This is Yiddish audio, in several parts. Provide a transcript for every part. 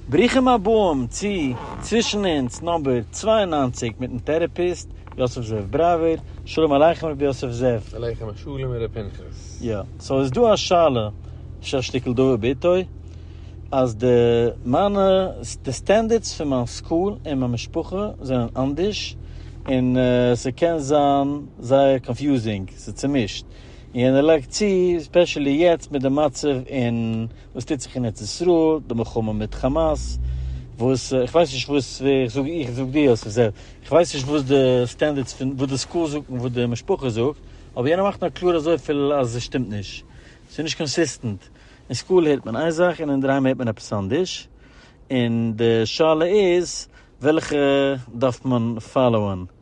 ברוכים הבאים צו צווישן אונז נאמבער צוויי און נײַנציק מיטן טערעפיסט יוסף זאב בראווער, שלום עליכם רבי יוסף זאב. עליכם השלום הרב פנחס. יא, סאו איז דא א שאלה, אפשר א שטיקל דבר בעתו, אז די מיינע די סטענדערדס פון מיין סקול און מיין משפחה זענען אנדערש, און ס'קען זיין זייער קאנפיוזינג, ס'איז צומישט, און יענער לייגט צו, ספעשעלי יעצט מיט די מצב אין וואס טוט זיך אין ארץ ישראל, די מלחמה מיט כאמאס, וואס איך ווייס נישט וואס ווער איך זאג איך זאג דיר אז ס'זעלבסט, איך ווייס נישט וואס די סטענדערדס פון וואס די סקול זאגט און וואס די משפחה זאגט, אבער יענער מאכט נאר קלאר אזויפיל אז עס שטימט נישט, ס'איז נישט קאנסיסטענט, אין סקול הערט מען איין זאך און אינדערהיים הערט מען עפעס אנדערש, און די שאלה איז וועלכע דארף מען פאלאוען.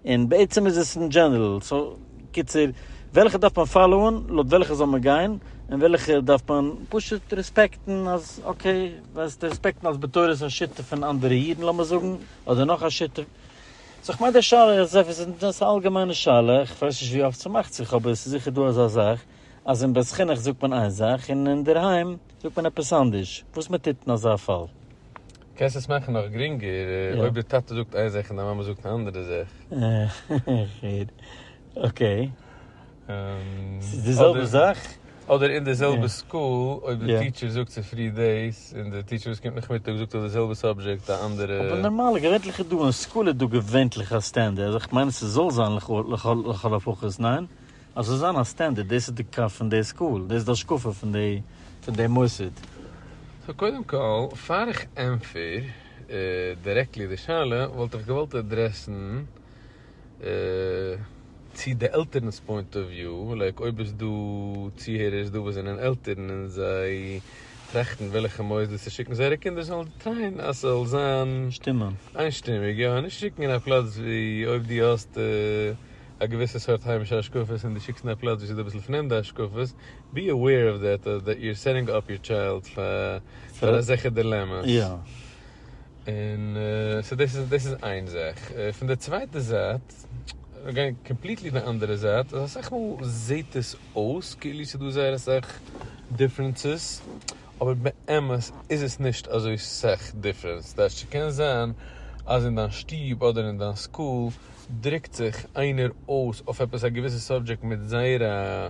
און בעצם איז עס אין דזשענערל, סאו קיצור, וועלכע דארף מען פאלאוען, לויט וועלכע זאל מען גיין, און וועלכע דארף מען פשוט רעספעקטן אז אקעי, וועסטו רעספעקטן אז בתורת השית פון אנדערע אידן לאמיר זאגן, אדער נאך א שיטה, סאו כ'מיין די שאלה איז עפעס און דאס איז א אלגעמיינע שאלה, כ'ווייס נישט ווי אפט ס'מאכט זיך אבער ס'איז זיכער דא אזא זאך אז אין בית חינוך זאגט מען איין זאך און אינדערהיים זאגט מען עפעס אנדערש, וואס מ'טוט אין אזא פאל? קענסט עס מאכן נאך גרינגער אויב די טאטע זאגט איין זאך און די מאמע זאגט אן אנדערע זאך. כ'הער. אקעי. ס'איז די זעלבע זאך? אדער אין די זעלבע סקול אויב די טיטשער זאגט צופרי דאס און די טיטשער וואס קומט נאכמיטאג זאגט אויף די זעלבע סאבזשעקט א אנדערע. אבער נארמאל געווענטליך איז דא אין סקול איז דא געווענטליך א סטענדערד, איך מיין עס זאל זיין לכל הפחות, ניין? אז ס'זאל זיין א סטענדערד, דאס איז די קו פון די סקול, דאס איז די השקפה פון די מוסד. סאו קודם כל, פאר איך ענפער דירעקטלי די שאלה, וואלט איך געוואלט עדרעסן צו די עלטערן'ס פוינט אוו וויו, לייק אויב איז דא צוהערערס דא וואס זענען עלטערן און זיי טראכטן וועלכע מוסדות צו שיקן זייערע קינדער, זאלן זיי טרייען אז ס'זאל זיין שטימען. איינשטימיג, יא, נישט שיקן אין א פלאץ ווי אויב דו האסט א געוויסע סארט היימישע השקפות און דו שיקסט אין א פלאץ וואס איז דא אביסל פרעמדע השקפות, בי אוועיר אוו דעט דעט יו אר סעטינג אפ יור טשיילד פאר אזעלכע דילעמאס. יא. און סאו דאס איז דאס איז איין זאך. פון די צווייטע זייט, מיר גייען קאמפליטלי די אנדערע זייט, אז אסאך מאל זעט עס אויס כאילו ס'דא זייער אסאך דיפרענסעס, אבער באמת איז עס נישט אזוי סאך דיפרענס, דאס שכן זיין אז אין דיין שטוב אדער אין דיין סקול דרוקט זיך איינער אויס אויף עפעס א געוויסע סאבדזשעקט מיט זייער א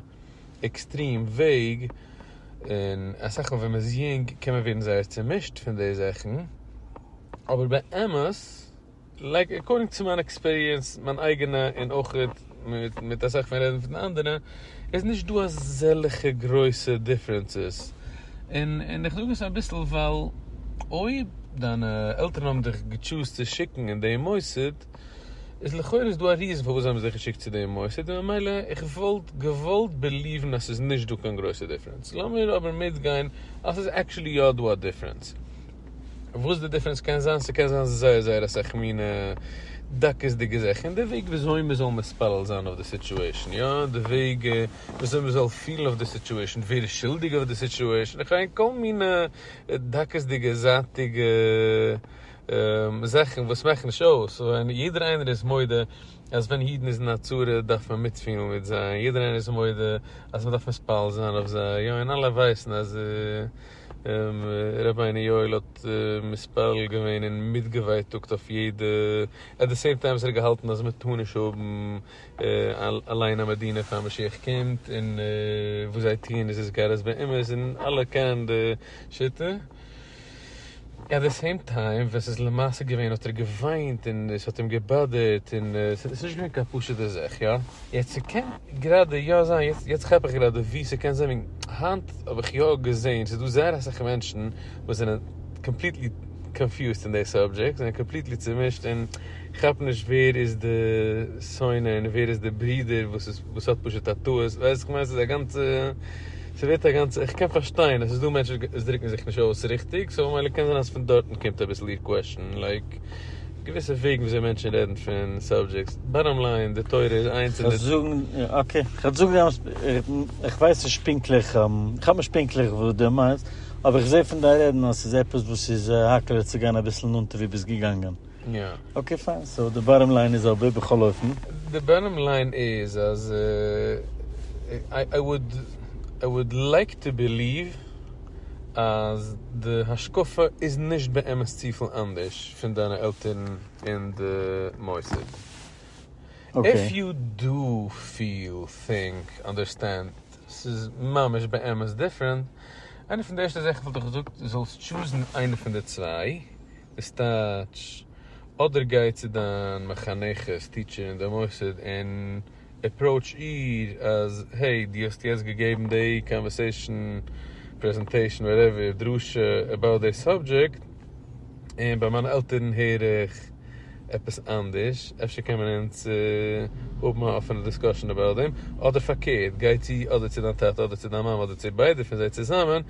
עקסטרים וועג, און אסאך מאל ווען מען איז יונג קען מען ווערן זייער צומישט פון די זאכן, אבער באמת. לייק עקארדינג צו מיין עקספיריענס, מיין אייגענע און אויך מיט אסאך פון רעדן פון אנדערע, איז נישט דא אזעלכע גרויסע דיפרענסעס, און איך זאג עס אביסל ווייל אויב דיינע עלטערן האבן דיך געטשוזט צו שיקן אין דעם מוסד, איז לכאורה איז דא א ריזן פארוואס זיי האבן זיך געשיקט צו דעם מוסד, און ממילא איך וואלט געוואלט בעליוון אז ס'איז נישט דא קיין גרויסע דיפרענס, לאמיר אבער מיטגיין אז ס'איז עקטשולי יא דא א דיפרענס. וואס די דיפרענס קען זיין, ס'קען זיין זייער זייער אסאך מינע דקות'דיגע זאכן, און די וועג וויאזוי מ'זאל מתפלל זיין אויף די סיטועשן, יא, די וועג וויאזוי מ'זאל פילן אויף די סיטועשן, ווער איז שולדיג אויף די סיטועשן, איך מיין כל מינע דקות'דיגע זייטיגע זאכן וואס מאכן נישט אויס, ווען יעדער איינער איז מודה אז ווען אידן איז אין א צרה דארף מען מיטפילן מיט זיי, יעדער איינער איז מודה אז מ'דארף מתפלל זיין אויף זיי, יא, און אלע ווייסן אז. ר' בני יואל האט מתפלל געווען און מיטגעווייטאגט אויף יעדע, עט די סעים טיים האט ער געהאלטן אז מען טאר נישט האבן אליין א מדינה פאר משיח קומט, און וואס זיי טוען איז איז גאר אז באמת און אלע קענען די שיטה. עט די סעים טיים ווען ס'איז למעשה געווען האט ער געוויינט און עס האט אים געבאדערט און ס'איז נישט געווען קיין פשוטע זאך יא? יעצט ס'קען גראדע יא זיין יעצט יעצט כאפ איך גראדע ווי ס'קען זיין וועגן היינט האב איך יא געזעהן ס'איז דא זייער אסאך מענטשן וואס זענען קאמפליטלי קאנפיוזט אין די סאבדזשעקט זענען קאמפליטלי צומישט און כאפן נישט ווער איז די שונא און ווער איז די ברודער וואס איז וואס האט פשוט א טעות ווייסט כ'מיין ס'איז א גאנצע ס'ווערט א גאנצע, איך קען פארשטיין אז ס'איז דא מענטשן וואס דרוקן זיך נישט אויס ריכטיג, סאו ממילא קען זיין אז פון דארטן קומט אביסל איר קוועשן, לייק געוויסע וועגן ווי אזוי מענטשן רעדן פון סאבדזשעקטס, באטאם ליין די תורה איז איינס און די. אקעי, כ'וועל זאגן די אמת, איך ווייס נישט פונקטליך, כ'האב נישט פונקטליך וואס דו מיינסט, אבער איך זע פון דיין רעדן אז ס'איז עפעס וואס איז האקעלע צו גיין אביסל נאנטער ווי ביסט געגאנגען. יא. אקעי פיין, סאו די באטאם ליין איז אבער בכל אופן. די באטאם ליין איז אז איי וואלד איי וואלד לייק טו ביליוו אז די השקפה איז נישט באמת צופיל אנדערש פון דיינע עלטערן אין די מוסד. איף יו דו פיל טינק אנדערסטענד ס'איז ממש באמת דיפרענט, איינע פון די ערשטע זאכן וואלט איך געזאגט זאלסט טשוזן איינע פון די צוויי. איז טייטש, אדער גיי צו דיין מחנכת, טיטשער אין די מוסד און עפראוטש איר אז העי, דו האסט יעצט געגעבן די קאנווערסעישאן, פרעזענטעישאן, וואטעווער, דרשה, עבאוט די סאבדזשעקט, און ביי מיינע עלטערן הער איך עפעס אנדערש, אפשר קען מען אונז האבן א אפענע דיסקאשען עבאוט דעם, אדער פארקערט, גיי צו אדער צו דיין טאטע אדער צו דיין מאמע אדער צו ביידע פון זיי צוזאמען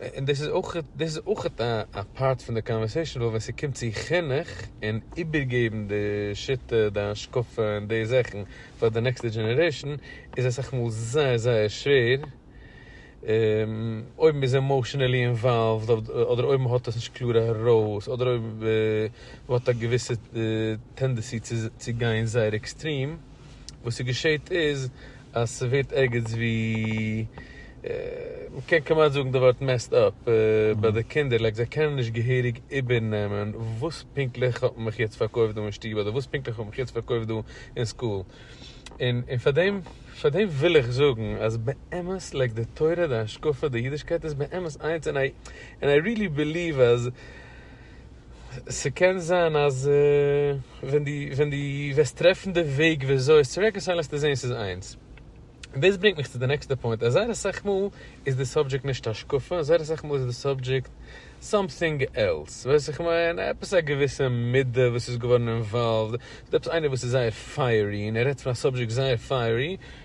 און דאס איז אויך דאס איז אויך א פארט פון די קאנווערסעישן דא ווען ס'קומט צו חינוך און איבערגעבן די שיטה די השקפה און די זאכן פאר די נעקסטע דזשענערעישן איז אסאך מאל זייער זייער שווער אויב מ'איז עמאושענעלי אינוואלווד אדער אויב מ'האט עס נישט קלאר ארויס אדער אויב מ'האט א געוויסע טענדעסי צו גיין זייער עקסטרים. וואס ס'געשעהט איז אז ס'ווערט ערגעץ ווי, מ'קען כמעט זאגן די ווארט מעסד אפ, ביי די קינדער, לייק זיי קענען נישט געהעריג איבערנעמען וואס פונקטליך האט מען מיך יעצט פארקויפט דא אין שטוב אדער וואס פונקטליך האט מען מיך יעצט פארקויפט דא אין סקול. און און פארדעם פארדעם וויל איך זאגן אז באמת לייק די תורה די השקפה די אידישקייט איז באמת איינס און איי רילי ביליוו אז ס'קען זיין אז ווען דו ווען דו וועסט טרעפן די וועג ווי אזוי עס צו רעקאנסייל וועסטו זען ס'איז איינס. און דאס ברענגט מיך צו די נעקסטע פוינט אז זייער אסאך מאל איז די סאבדזשעקט נישט השקפה, זייער אסאך מאל איז די סאבדזשעקט סאמטינג עלס, ווייסט וואס איך מיין? עפעס א געוויסע מידה וואס איז געווארן אינוואלווד, ס'דא עפעס איינער וואס איז זייער פייערי און ער רעדט פון א סאבדזשעקט זייער פייערי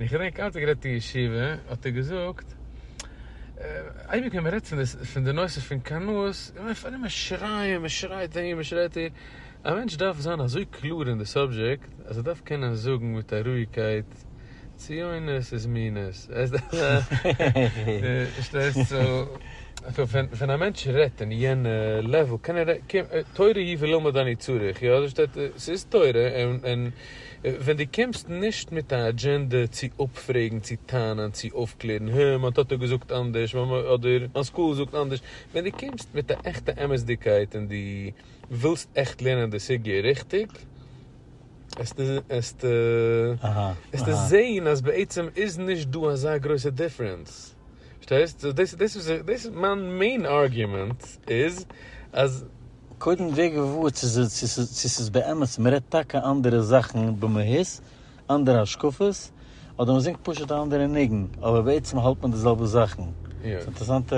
ווען איך האב געווען קאלט גערעדט אין ישיבה האט ער געזאגט אייביג ווען מען רעדט פון די נושא פון קנאות פארן מען שרייען מען שרייט אהין מען שרייט אהין א מענטש דארף זיין אזוי קלאר אין די סאבזשעקט אז ער דארף קענען זאגן מיט א רואיגקייט ציונות איז מינות פארשטייסט סא ווען א מענטש רעדט אין יענע לעוועל קען ער תורה היא ולא מדני צריך יא ס'איז תורה און. ווען דו קומסט נישט מיט א אג'ענדע צו אפפרעגן, צו טענה'ן, צו אויפקלערן, הע, מיין טאטע האט געזאגט אנדערש, מיין מאמע, אדער מיין סקול זאגט אנדערש, ווען דו קומסט מיט א עכטע אמת'דיגקייט און דו ווילסט עכט לערנען די סוגיא ריכטיג, עסטו זעהן אז בעצם איז נישט דא אזא גרויסע דיפרענס, פארשטייסט? סאו דאס איז מיין מעין ארגומענט איז אז. קודם ווער געוואר צו ס'איז צו ס'איז צו ס'איז באמת מ'רעדט טאקע אנדערע זאכן במהות, אנדערע השקפות, אדער מ'זינגט פשוט א אנדערע ניגון, אבער בעצם האלט מען די זעלבע זאכן. ס'איז אינטערעסאנטע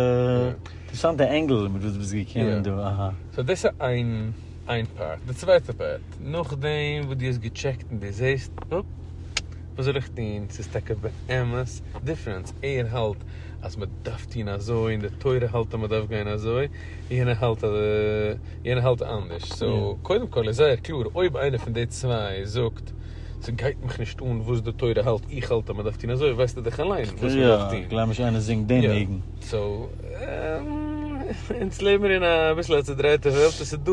אינטערעסאנטע ענגל מיט וואס די ביסט געקומען דא, אהא. סאו דאס איז איין איין פארט. די צווייטע פארט, נאכדעם וואס דו האסט געטשעקט און דו זעסט, אפ, וואס זאל איך טון, ס'איז טאקע באמת דיפרענס, ער האלט אז מ'דארף טון אזוי און די תורה האלט אז מ'דארף גיין אזוי, יענער האלט אז יענער האלט אנדערש סאו קודם כל איז זייער קלאר אויב איינער פון די צוויי זאגט ס'גייט מיך נישט אן וואס די תורה האלט איך האלט אז מ'דארף טון אזוי ווייסטו דאך אליין וואס מ'דארף טון. כ'גלייב נישט איינער זינגט דעם ניגון. סאו אונז לעבן מיר אין א אביסל א צודרייטע וועלט עס איז דא.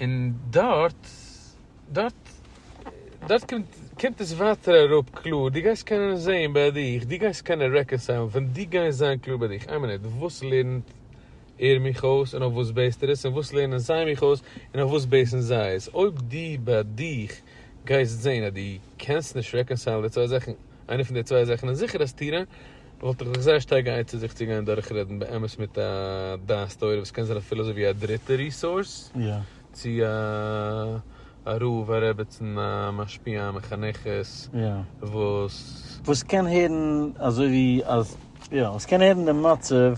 און דארט דארט דארט קומט עס ווייטער אראפ קלאר, דו גייסט קענען זעהן ביי דיך, דו גייסט קענען רעקאנסיילן ווען דו גייסט זיין קלאר ביי דיך, איין מינוט, וואס לערנט ער מיך אויס און אויף וואס בעיסט ער עס, און וואס לערנען זיי מיך אויס און אויף וואס בעיסן זיי עס, אויב דו ביי דיך גייסט זעהן אז דו קענסט נישט רעקאנסיילן די צוויי זאכן, איינע פון די צוויי זאכן איז זיכער אז תירא, וואלט איך זיך זייער שטארק געאייצערט זיך צו גיין דורכרעדן באמת מיט א דעת תורה וואס קען זיין אפילו אזוי ווי א דריטע ריסאורס, צו א רב, א רעבעצן, א משפיע, א מחנכת, וואס. וואס קען הערן אזוי ווי אז, יא, וואס קען הערן די מצב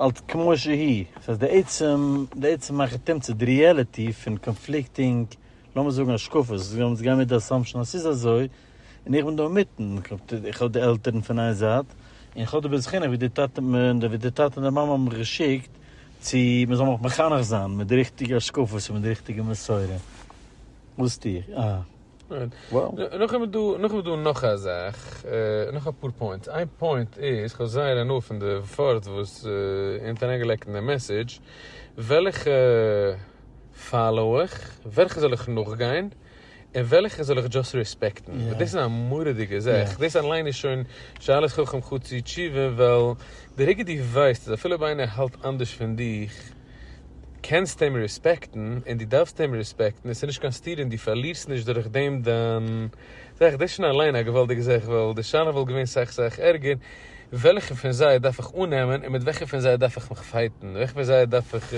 אלס כמו שהיא, דאס הייסט די עצם, די עצם מאכן תמצית, די ריעליטי פון קאנפליקטינג, לאמיר זאגן השקפות, זאל אונז גיין מיט די אסאמפשאן אז ס'איז אזוי, און איך בין דא אינמיטן, איך האב די עלטערן פון איין זייט, און איך האב די בית חינוך ווי די טאטע און די מאמע האבן מיך געשיקט צו מען זאל מיך מחנך זיין מיט די ריכטיגע השקפות און מיט די ריכטיגע מסורה. וואס טו איך? אה. נאכדעם איז דא, נאכדעם איז דא נאך א זאך, נאך אפאר פוינטס. איין פוינט איז, איך האב זייער הנאה פון די ווארט וואס איר האט אריינגעלייגט אין די מעסעדזש, וועלכע פאלאו איך? וועלכע זאל איך נאכגיין? און וועלכע זאל איך דזשאסט רעספעקטן? וואס דאס איז א מורא'דיגע זאך, דאס אליין איז שוין שאלת חכם חוץ אי תשובה, ווייל די רגע דו ווייסט אז אפילו אויב איינער האלט אנדערש פון דיך, קענסטו אים רעספעקטן, און דו דארפסט אים רעספעקטן, און ס'איז נישט קיין סתירה און דו פארלירסט נישט דורך דעם דיין זאך, דאס איז שוין אליין א געוואלדיגע זאך, ווייל די שאלה וואלט געווען סאך סאך ערגער, וועלכע פון זיי דארף איך אננעמען און מיט וועלכע פון זיי דארף איך מיך פייטן, וועלכע פון זיי דארף איך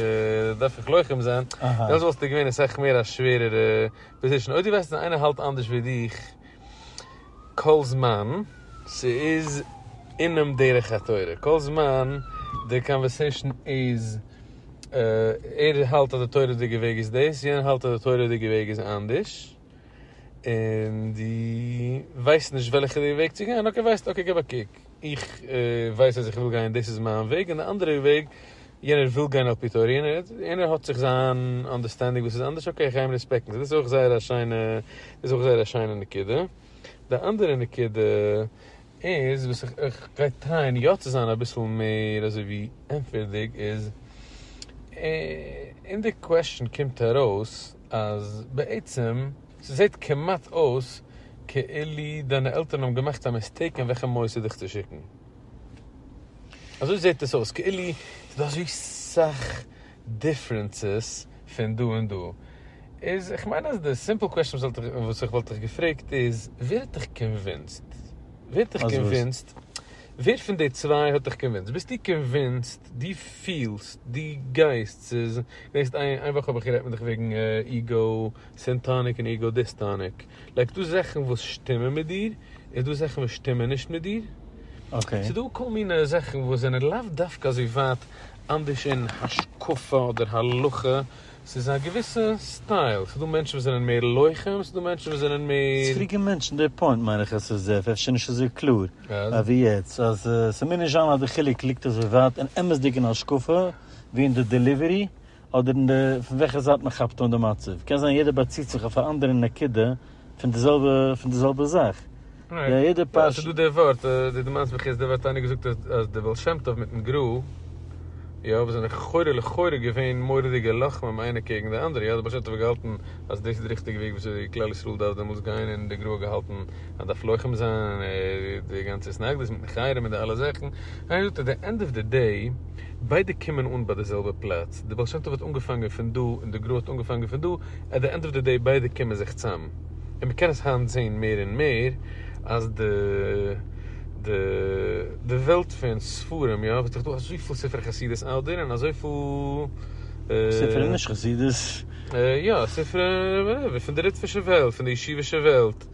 דארף איך לוחם זיין, דעמאלטס וואלסטו געווען אסאך מער א שווערערע פאזישאן, אויב דו ווייסט אז איינער האלט אנדערש ווי דיך כל זמן ס'איז אינעם דרך התורה, כל זמן די קאנווערסעישאן איז ער האלט אז די תורה'דיגע וועג איז דאס, יענער האלט אז די תורה'דיגע וועג איז אנדערש. און דו ווייסט נישט וועלכע די וועג צו גיין, אקעי ווייסט אקעי גיב א קוק, איך ווייס אז איך וויל גיין דאס איז מיין וועג און די אנדערע וועג יענער וויל גיין על פי תורה און יענער האט זיך זיין אנדערסטענדינג וואס איז אנדערש אקעי איך גיי אים רעספעקטן דאס איז אויך זייער א שיינע דאס איז אויך זייער א שיינע נקודה. די אנדערע נקודה איז וואס איך איך גיי טרייען יא צו זיין אביסל מער אזוי ווי ענטפערדיג איז אין די קוועשן קומט ארויס, אז בעצם ס'זעהט כמעט אויס כאילו דיינע עלטערן האבן געמאכט א מיסטעיק אין וועלכע מוסד דיך צו שיקן. אזוי זעהט עס אויס כאילו ס'איז דא אזוי סאך דיפרענסעס פון דא און דא. איז איך מיין אז די סימפל קוועסטשן וואס איך וואלט דיך געפרעגט איז ווער האט דיך קאנווינסד? ווער האט דיך קאנווינסד? ווער פון די צוויי האט דיך קאנווינסט? ביסטו קאנווינסט? דו פילסט? דו גייסט? ס'איז, געדענקסט איין וואך האב איך גערעדט מיט דיך וועגן איגו סענטאניק און איגו דיסטאניק? לייק ס'דא זאכן וואס שטימען מיט דיר, און ס'דא זאכן וואס שטימען נישט מיט דיר. אקעי. ס'דא כל מיני זאכן וואס זענען לאו דווקא אזוי ווייט אנדערש אין השקפה אדער הלכה. ס'איז א געוויסע סטייל, ס'דא מענטשן וואס זענען מער לוחם, ס'דא מענטשן וואס זענען מער. ס'קלוגע מענטשן, די פוינט מיין איך אז ס'איז אפשר נישט אזוי קלאר אווי יעצט, אז ס'מוז נישט זיין אז די חילוק ליגט אזוי ווייט אין אמת'דיגן השקפה ווי אין די דעליווערי אדער אין די פון וועלכע זייט מ'כאפט אן די מצב, קען זיין יעדער באציט זיך אויף א אנדערע נקודה פון די זעלבע פון די זעלבע זאך. יא יעדע פאר. ס'איז דא די ווארט, די דו מיינסט בחסדא וואס האט איינער געזאגט אז די בעל שם טוב מיטן גרא יא וואס זענען לכאורה לכאורה געווען מורא'דיגע לוחמים איינער קעגן די אנדערע יא די בעל שם טוב האט געהאלטן אז דאס איז די ריכטיגע וועג וויאזוי כלל ישראל דארף דעמאלטס גיין און די גרא האט געהאלטן אז דארף לוחם זיין און די גאנצע התנגדות מיטן חרם און די אלע זאכן איינער זאגט אז די ענד אוו די דעי ביידע קומען אן ביי די זעלבע פלאץ, די בעל שם טוב האט אנגעפאנגען פון דא און די גרא האט אנגעפאנגען פון דא, עט די ענד אוו די דעי ביידע קומען זיך צאם, און מען קען עס היינט זעהן מער און מער אז די די די וועלט פון ספרים יא וואס דאך דא אזויפיל ספרי חסידות אדער און ספרי נישט אזויפיל חסידות. יא ספרי ווערעווער פון די ליטווישע וועלט פון די ישיבישע וועלט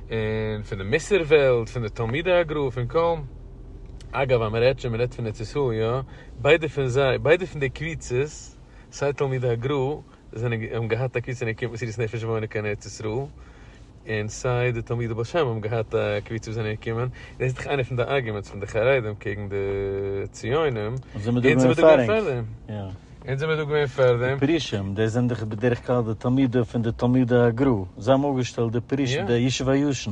און פון די מוסר וועלט פון די תלמידי הגרא פון קהל. אגב אז מען רעדט שוין מען רעדט פון ארץ ישראל יא, ביידע פון זיי ביידע פון די קביצות סיי תלמידי הגרא זענען האבן געהאט א קביצה אין ערכי מסירות נפש וואוינען קיין ארץ ישראל, און סיי די תלמידי בעל שם האבן געהאט א קביצה וואס זענען געקומען, דאס איז דאך איינע פון די ארגומענטס פון די חרדים קעגן די ציונים, אונז זעמער דא געווען פאר ענק, אונז זעמער דא געווען פאר דעם. די פרושים דאס זענען דאך בדרך כלל די תלמידים פון די תלמידי הגרא, זיי האבן אויפגעשטעלט די פרושים די ישוב הישן.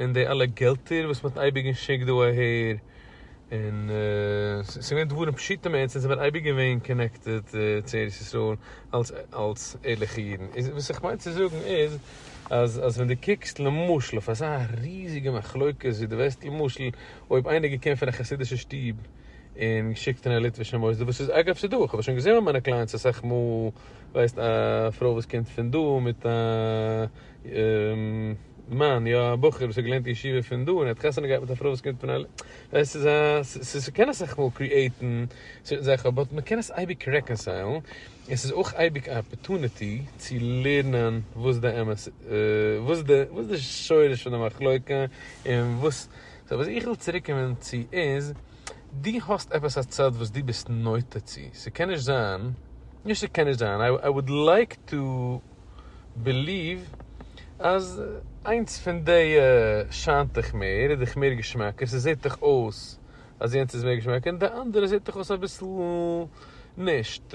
און די אלע געלטער וואס מען האט אייביג געשיקט דא אהער, און ס'איז געווען דברים פשוטים מאד, זיי זענען אייביג געווען קאנעקטעד צו ארץ ישראל אלס אלס ערליכע אידן, איז וואס איך מיין צו זאגן איז, אז אז ווען דו קוקסט למשל אויף אזא ריזיגע מחלוקת ווי דו וועסט למשל אויב איינער געקומען פון א חסידישע שטוב און געשיקט אין א ליטווישע מוסדות וואס איז אגב ס'איז דא איך האב עס שוין געזען מיט מיינע קליינטס אסאך מאל ווייסט א פרוי וואס קומט פון דא מיט א מאן, יא, א בחור וואס האט געלערנט אין ישיבה פון דא און האט חתונה געהאט מיט א פרוי וואס קומט פון א ל ט, ווייסט איז א, ס'קען אסאך מאל קריעיטן צווישן זיי, כ'האב באט מ'קען עס אייביג רעקאנסיילן, און ס'איז אויך אייביג א אפערטוניטי צו לערנען וואס די אמת, וואס די, וואס די שורש פון די מחלוקה און וואס, סאו וואס איך וויל צוריק קומען צו איז, דו האסט עפעס א צד וואס דו ביסט נוטה צו, ס'קען נישט זיין, נישט ס'קען נישט זיין, איי וואלד לייק טו. בעליוו אז איינס פון די שיינט דיך מער, איז דיך מער געשמאקער, ס'זעט דיך אויס אז יענץ איז מער געשמאקער, און די אנדערע זעט דיך אויס אביסל נישט,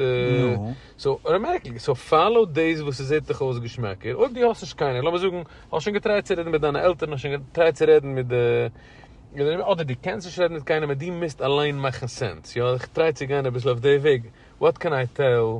סאו אוטאמעטיקלי, סאו פאלאו דאס וואס ס'זעט דיך אויס געשמאקער, אויב דו האסט נישט קיינער, לאמיר זאגן האסט שוין געטרייט צו רעדן מיט דיינע עלטערן, האסט שוין געטרייט צו רעדן מיט די, אדער דו קענסט נישט רעדן מיט קיינעם און דו מוזט אליין מאכן סענס, יא, איך טריי צו גיין אביסל אויף די וועג, וואט קען איי טעל?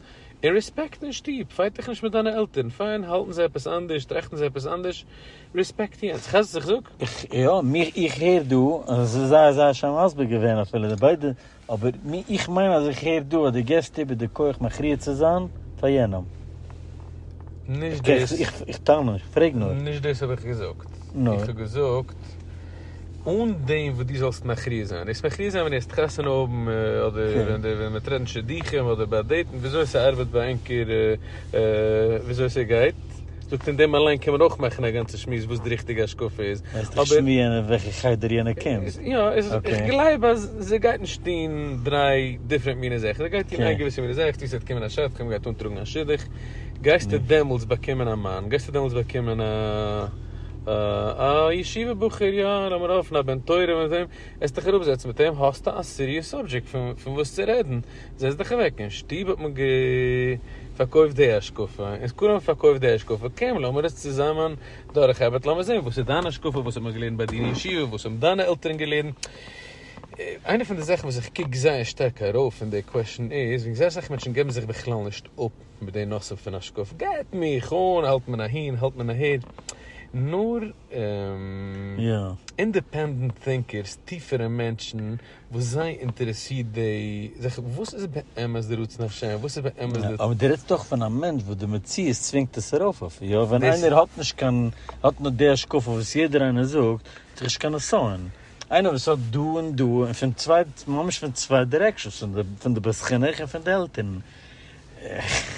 און רעספעקט אין שטוב, פייט דיך נישט מיט דיינע עלטערן, פיין, האלטן זיי עפעס אנדערש, טראכטן זיי עפעס אנדערש, רעספעקט יענץ, כאפסט וואס איך זאג? יא, מיר, איך הער דא, און עס איז זייער זייער שיין מסביר געווען אפילו די ביידע, אבער מיר, איך מיין אז איך הער דא אז דו געבסט איבער די כח מכריע צו זיין פאר יענעם. נישט דאס. איך טענה, איך פרעג נאר. נישט דאס האב איך געזאגט. נו. איך האב געזאגט. אן דעם וואס דו זאלסט מכריע זיין. דאס מכריע זיין ווען ער עסט חתונה האבן, אדער ווען מען טרעטן שידוכים, אדער ביי דעיטן, וויאזוי ס'ארבעט ביי ענקער, וויאזוי ס'גייט, זאגט אין דעם אליין קען מען אויך מאכן א גאנצע שמועס וואס די ריכטיגע השקפה איז, אבער. מיינסט איך שמוען אין וועלכע חדר יענער קומט? יא, איך גלייב אז זי גייט נישט טון דריי דיפרענט מיני זאכן, זי גייט טון איין געוויסע מיני זאך, צו ס'וועט קומען א שדכן, מ'גייט אנטראגן א שידוך, גייסטו דעמאלטס באקומען א מאן, גייסטו דעמאלטס באקומען א. א ישיבה בחור יא, לאמיר האפן א בן תורה מיט אים, העסט דיך אראפ זעצן מיט אים, האסטו א סיריעס סאבדזשעקט פון וואס צו רעדן, זעץ דיך אוועק, אין שטוב האט מען פארקויפט די השקפה, און כולם האבן פארקויפט די השקפה, קום לאמיר עס צוזאמען דורכארבעטן, לאמיר זען וואס איז דיין השקפה, וואס האט מען געלערנט ביי דיר אין ישיבה, וואס האבן דיינע עלטערן געלערנט, איינע פון די זאכן וואס איך קוק זייער שטארק ארויף אין די קוועשן איז, ווי איך זעה אסאך מענטשן געבן זיך בכלל נישט אפ, מיט די נושא פון השקפה גייט מיך אן, האלט מען אהין האלט מען אהער, נאר אינדעפענדענט טינקערס, טיפערע מענטשן וואס זיי אינטערעסירט די זאך, וואס איז באמת די רצון השם, וואס איז באמת די. אבער דו רעדסט דאך פון א מענטש וואס די מציאות צווינגט עס ארויף אויף איהם, ווען איינער האט נישט קיין, האט נאר די השקפה וואס יעדער איינער זאגט, האט דאך נישט קיין נסיון, איינער וואס האט דא און דא און פון צוויי ממש פון צוויי דירעקשאנס, פון די בית חינוך און פון די עלטערן.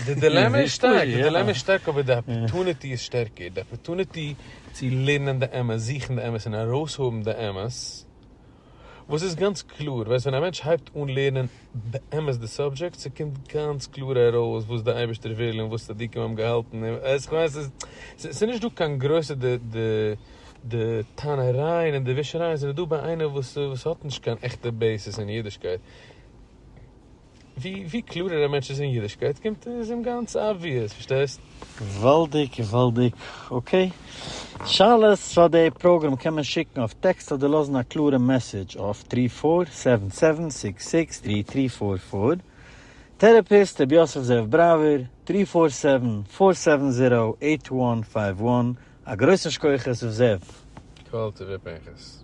די דילעמע איז שטארק, די דילעמע איז שטארק אבער די אפערטוניטי איז שטערקער, די אפערטוניטי צו לערנען די אמת, זוכן די אמת און ארויסהאבן די אמת, וואס איז גאנץ קלאר, ווייסט ווען א מענטש הייבט אן לערנען באמת די סאבדזשעקט, ס'קומט גאנץ קלאר ארויס וואס די אייבערשטער וויל און וואס צדיקים האבן געהאלטן, ווייסט כ'מיין ס'איז נישט דא קיין גרויסע די טענה'רייען און די ווישערייען זענען דא ביי איינער וואס האט נישט קיין עכטע בעיסיס אין אידישקייט. ווי קלארער א מענטש איז אין אידישקייט קומט איז אים גאנץ אבוויעס, פארשטייסט? געוואלדיג געוואלדיג, אקעי. שאלות פאר די פראגרעם קען מען שיקן אויף טעקסט אדער לאזן א קלארע מעסעדזש אויף טרי פאר סעווען סעווען סיקס סיקס טרי טרי פאר פאר, טערעפיסט ר' יוסף זאב בראווער, טרי פאר סעווען פאר סעווען זירא עיט וואן פייוו וואן, א גרויסן שקויעכעס ר' זאב. קוואלטי ר' פנחס.